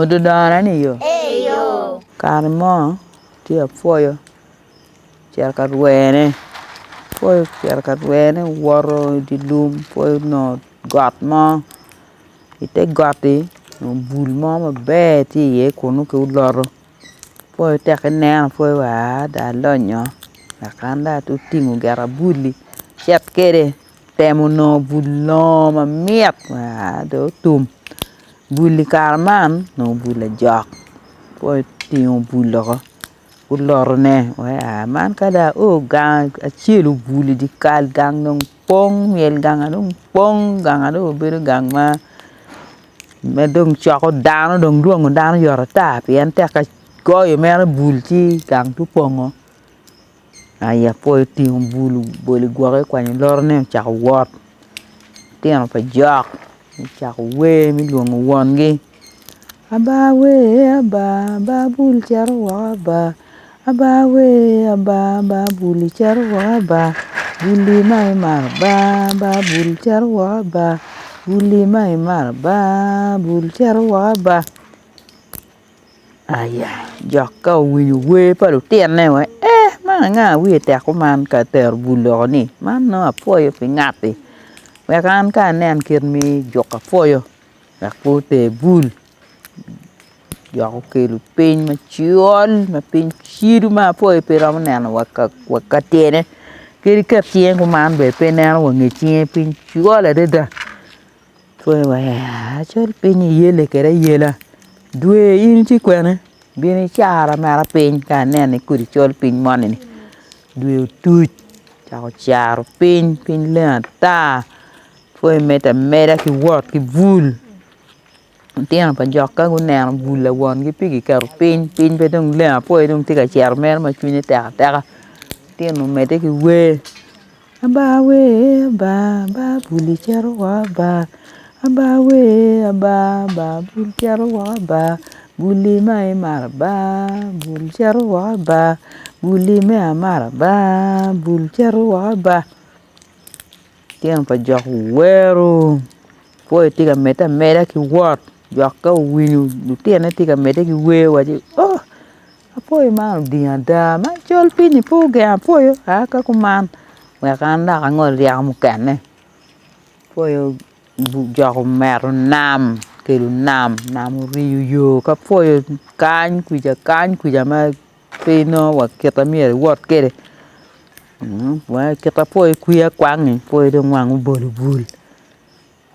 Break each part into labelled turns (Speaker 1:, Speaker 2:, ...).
Speaker 1: Odudona ni yo. Kare mo ci apwoyo ocito ka rwene apwoyo ocito ka rwene owoto idi lum apwoyo onongo got mo ite got-ti onongo bul mo maber tye iye kunu ki oloto apwoyo tek ki neno apwoyo wa aa dong alonyo dok an dong atingo gin abul-li acit kwede. Temo nongo bul longo mamit ma dong otum bul i kare man onongo bul lajok ka itingo bul loko gulotone weko aa man ka dong ao gang acel obul i dyekal gang dong pong myel ganga dong pong ganga dong obedo gang ma dong coko dano dong lwongo dano yot ata pien tekka goyo mere bul ci gang pe opongo. I apoyo otingo bul obolo i gwake okwanyo lorone ocako wot litino pa jok gucako wer me lwongo wongi aba wee aba aba bul cito woko aba, aba wee aba aba bul cito woko aba bul-li ma imaro aba aba bul cito woko aba bul-li ma imaro aba bul cito woko aba. Aya jok ka owinyo wer pa lutinone wa ee man anga ma wiye tek kuman ka tero bul loko ni man nongo apwoyo pi ngati wek an ka anen kit ma ijuko apwoyo wek pe oter bul jok okelo piny macol ma piny cido ma apwoyo pe romo neno wa ka tyene kadi iket cinge kuman bene pe ineno wa nge cinge piny col adada. Pwony wa ya cal piny iyele kede ayela dwe in tye kwene gin icara mera piny ka aneno ni kodi col piny moni ni dwe otuc ocako caro piny, piny leng ata pwony medo ameda ki wot ki bul lutino pa jok ka guneno bul lawongi pe giketo piny, piny pe dong leng apo aye dong tye ka cero mere ma cwinye tek ateka litino medde ki wer. Aba wee aba aba bul icito woko aba aba wee aba aba bul cito woko aba buli ma imaro aba bul cito woko aba buli me amaro aba bul cito woko aba litino pa jok owero pol tye ka medde ameda ki wot. Dok ka owinyo lutine tye ka medde ki wer owaco ni ooh apoyo man oding ada ma col piny-nyi pe ogeng apoyo aa ka kuman wek an dok angol ryeko mukene apoyo ojok ometo nam okelo nam, nam oriyo yo ki apoyo kany kwija kany kwija ma pe inongo wa kit ma myero iwot kwede wa kit apoyo kwiyo akwangi apoyo dong wange obol obol.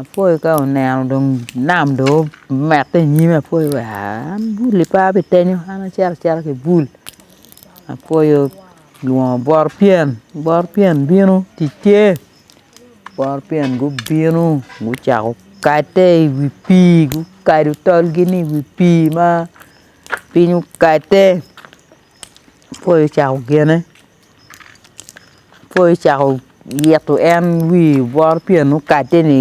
Speaker 1: Apoyo ka oneno dong nam dong omette i nyime apoyo aa an bul pa bitenyo an acito acita ki bul apoyo olwongo bot pyen bot pyen bino tic tye bot pyen gubino gucako kate i wi pii gukado tolgi ni i wi pii ma piny okate apoyo ocako gene. Ka icako yito en wi bot pien okadde ni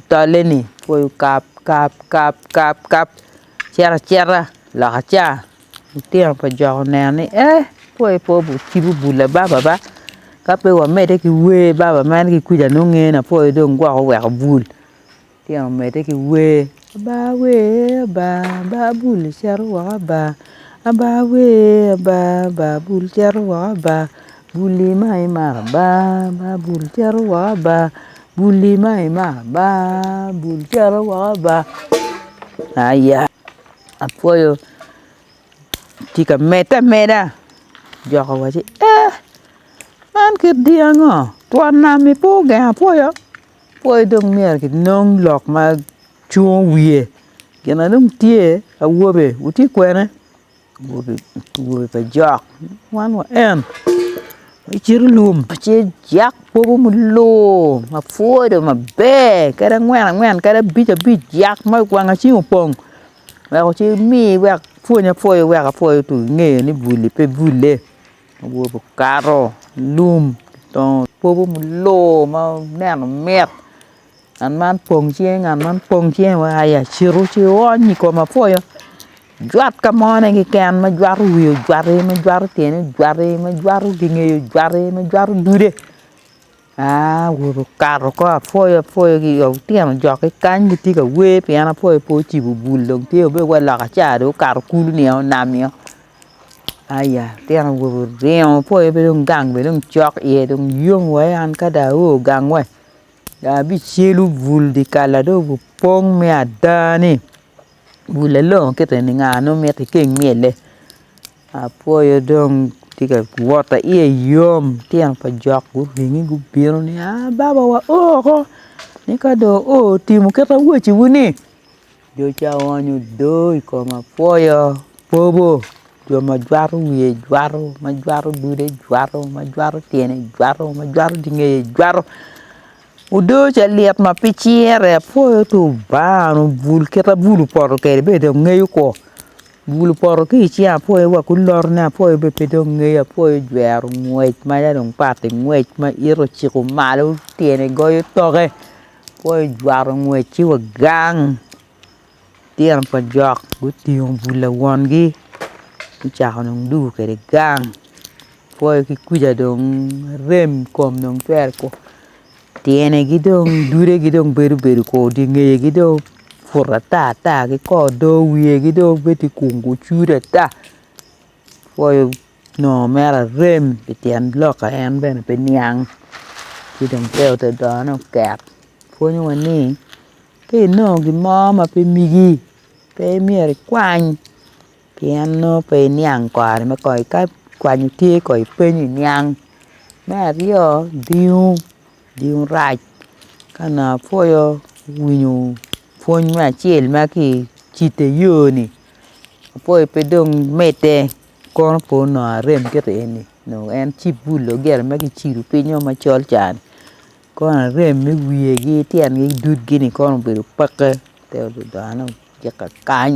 Speaker 1: tolle ni pe okap kap kap kap kap cito acita loka ca litino pa jok oneno ni ee pe pe ocibo bula baba ba kape wamede ki wer baba mere ki kwija nonge na pole dong gwok oweko bul. Litino omedde ki wer, Aba wer aba, aba bul icito woko aba, aba wer aba, aba bul icito woko aba, bulli ma imaro aba, aba bul icito woko aba, bulli ma imaro aba, aba bul icito woko aba aya apwoyo tye ka medde ameda jok owaci eeh man kit dyangi ngo twon nam ni pe ogengo apwoyo. Pwoyo dong myero kinong lok ma cungo wiye gin ma dong tye awobe wutye kwene awobe awobe pa jok wan wa en iciro lum ci ijak kwogo muluu ma pwoo dong maber kadi angwen angwen kadi abic abic jak ma wang acel opong weko ci imi wek pwony apwoya wek apwoya otum inge ni buli pe bule. Awobe okato i lum dongo kwobo mulor ma neno mit ngat man pong cinge ngat man pong cinge wa i acito ci ony i kom apwoyo ojwat ka mone keken ma jwato wiye ojwati ma jwato tyene ojwati ma jwato ginge ojwati ma jwato dude Okato kong apwoyo apwoyo ki i otino jokke kany gitye ka wer pien apwoyo pe ocibo bul dong tye obedo wai loka ca dong okato kulu nio onam nio aya litino awobe oringo apwoyo pe dong gang bene dong cok iye dong yom wa an ka dong ao gang we dong abicelu bul dyekal-la dong obi pong me ada-ni bul-la longo kit eni nga nongo miti keng myelle. Apwoyo dong tye ka wot aye iye yom litino pa jok guringe gubino ni aa baba wa o ko ni ka dong o otimo kit awaci wu ni jo ca oonyo odo i koma apwoyo bobo jo ma jwato wiye jwato ma jwato dude jwato ma jwato tyene jwato ma jwato dye ngeye jwato odo ca lit ma pe cire apwoyo twbanga onyo bul kit abul opoto kwede bene dong ngeyo ko. Bulu poto ki i cinga apwoyo wa ki olotone apwoyo bene pe dong ngeyo apwoyo jwero ngwec ma ya dong pati ngwec ma ito ociko malo tyene goyo toke apwoyo jwaro ngwec ci wa gang litino pa jok gutingo bul lawongi gucako dong dugo kwede gang apwoyo ki kuca dong arem kom dong twero Tyenegi dong dudegi dong bedo bedo kor dye ngeyegi dong put ata ata ki kor do wiyegi dong bedo ti gung gucudu ata pwoyo nongo mere arem pi tyen lokke en bene pe niang ci dong te ote done oket pwonyowa ni ka inongo gin mo ma pe migi pe imyero ikwany Pien nongo pe iniang kare me kony ka kwanyo tye kong ipenyo iniang, me aryo odingo odingo rac ka nongo apwoyo winyo pwony me acel ma ki i cit ayoni apwoyo pe dong medde kono po nongo arem ki rii eni nongo en ci bul logelo ma ki cibo pinyo macol ca ni kono arem me wiyegi tyengi dud gi ni kono obedo pekke te odudane ojika kany